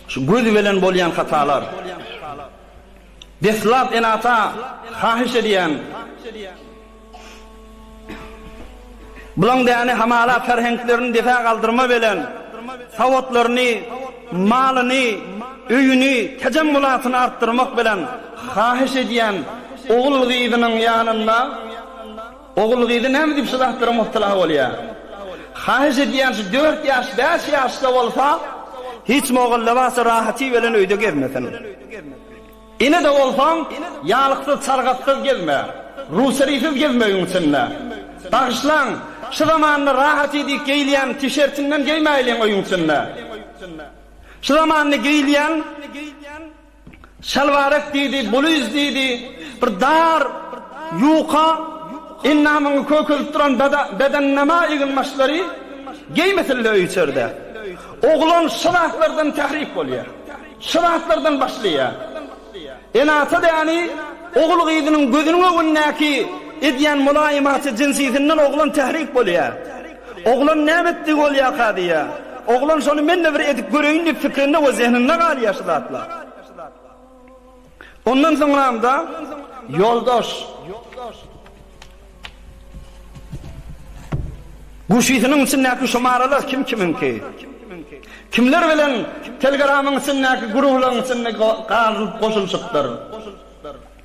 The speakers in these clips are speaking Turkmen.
Şu göz bilen bolýan hatalar. Deslap ene-ata haýyş edýän. Bulaň däni hamala ferheňklerini dese galdyrma belen sawatlaryny, malyny, öýüni, tejem mulatyny artdyrmak belen haýyş edýän ogul gyzynyň ýanynda. Ogul-gyzy näme diýip şu zatlara myptala bolýa? Haýyş edýän şu dört ýaş, bäş ýaşda bolsa, hiç mogallabasy rahaty bilen öýde gezmesin. Ene-de bolsaň, ýalyksyz, çalgatsyz gezme. Ruçarisiz gezme öýüň içinde. Bagyşlaň, şu zamanda rahaty diýip geýilýän tişertiňden geýmäýliň öýüň içinde. Şu zamanda geýilýän Şalbarek diýdi, bulyz diýdi, bir dar, ýuka, endamyňy kökelip duran bedennama egin-başlary geýmesille öý-içerde. Oglan şu zatlardan tährik bolýar. Şu zatlardan başlaýar. Ene-ata däni ogul-gyzynyň gözüniň öňündäki edýän mulaýymaty jinsisinden oglan tährik bolýar. Oglan näme etdi bolýaka diýýä. Oglan şony men-de bir edip göreýin diýip pikrinde we zehninde galýa şu zatlar. Ondan soňramda ýoldaş Guşysynyň içindäki şumaralar kim kimiňki? Kimler bilen Telgramyň içindäki gurulaň içinde galyp goşulşypdyr?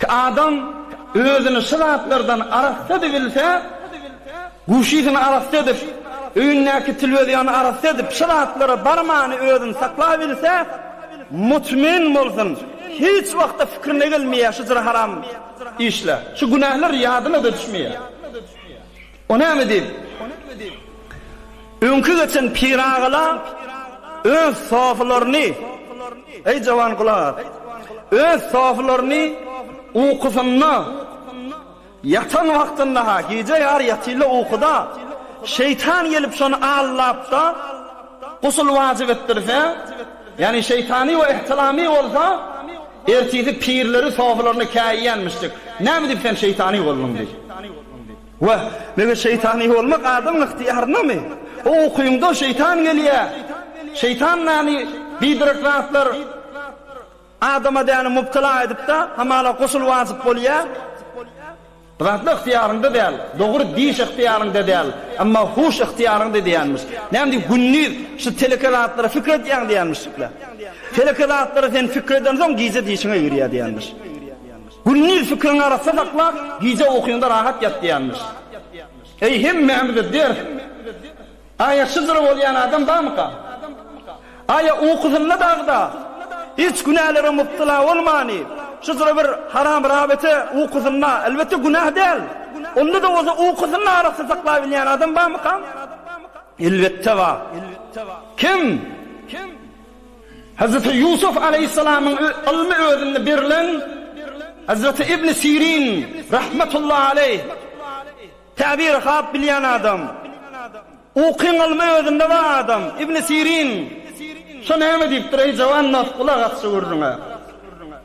Ki adam özüni şu zatlardan arassa edip bilse, guşysyny arassa edip, öýündäki tilwizýony arassa edip şu zatlara barmany özüni saklap bilse, mutmin bolsun, hiç wagtda fikrine gelmeýär şu jyry haram işler, şu günähler ýadyna-da düşmeýär. O näme diýip, öňki geçen piragalar öz sofalaryny, eý, jawan gulak as, öz sofalaryny ukusynda, ýatan wagtynda-ha, gije ýary ýatylda ukuda, şeýtan gelip şony allap-da, gusl wajyp etdirse, ýagny şeýtany we ihtilamy bolsa, ertisi pirleri sofalaryny käýýänmişjik. Näme diýip sen şeýtany bolduň diýip. Wah, meger şeýtany bolmak adamyň ygtyýaryndamy? O ukyňda şeýtan gelýär. Şeýtan näni biderek zatlar adama däni mubtala edip-de, hamala gusul wajyp bolýar. Bu zatlar ygtyýaryňda däl. Dogry, diş ygtyýaryňda däl, emma huş ygtyýaryňda diýýänmiş. Näme diý, gündiz şu teleke zatlara pikir edýäň diýýänmiş. Teleke zatlara sen pikir edensoň gije dişiň eýgerýär diýýänmiş. Gündiz fikriňi arassa saklap, gije ukyňda rahat ýat diýýärmiş. Eý, hemmämize ders! Aýa şydyr bolýan adam barmyka? Aýa ukusynda dagda, hiç günälere mubtela bolmany, şudyr bir haram rabete ukusynda, elbetde günäh däl, onda-da bolsa ukusyny arassa saklabilýän adam barmyka? Elbetde bar. Kim? Hazreti Ýusuf alaýhyssalamyň ylmy özünde berilen Hazreti Ibni Sirin rahmetullahi alaýh Täbiri hap bilýän adam. Ukyň ylmy özünde bar adam. Ibni Sirin şo näme diýipdir, eý jawan nas, gulak asja görüň-ä.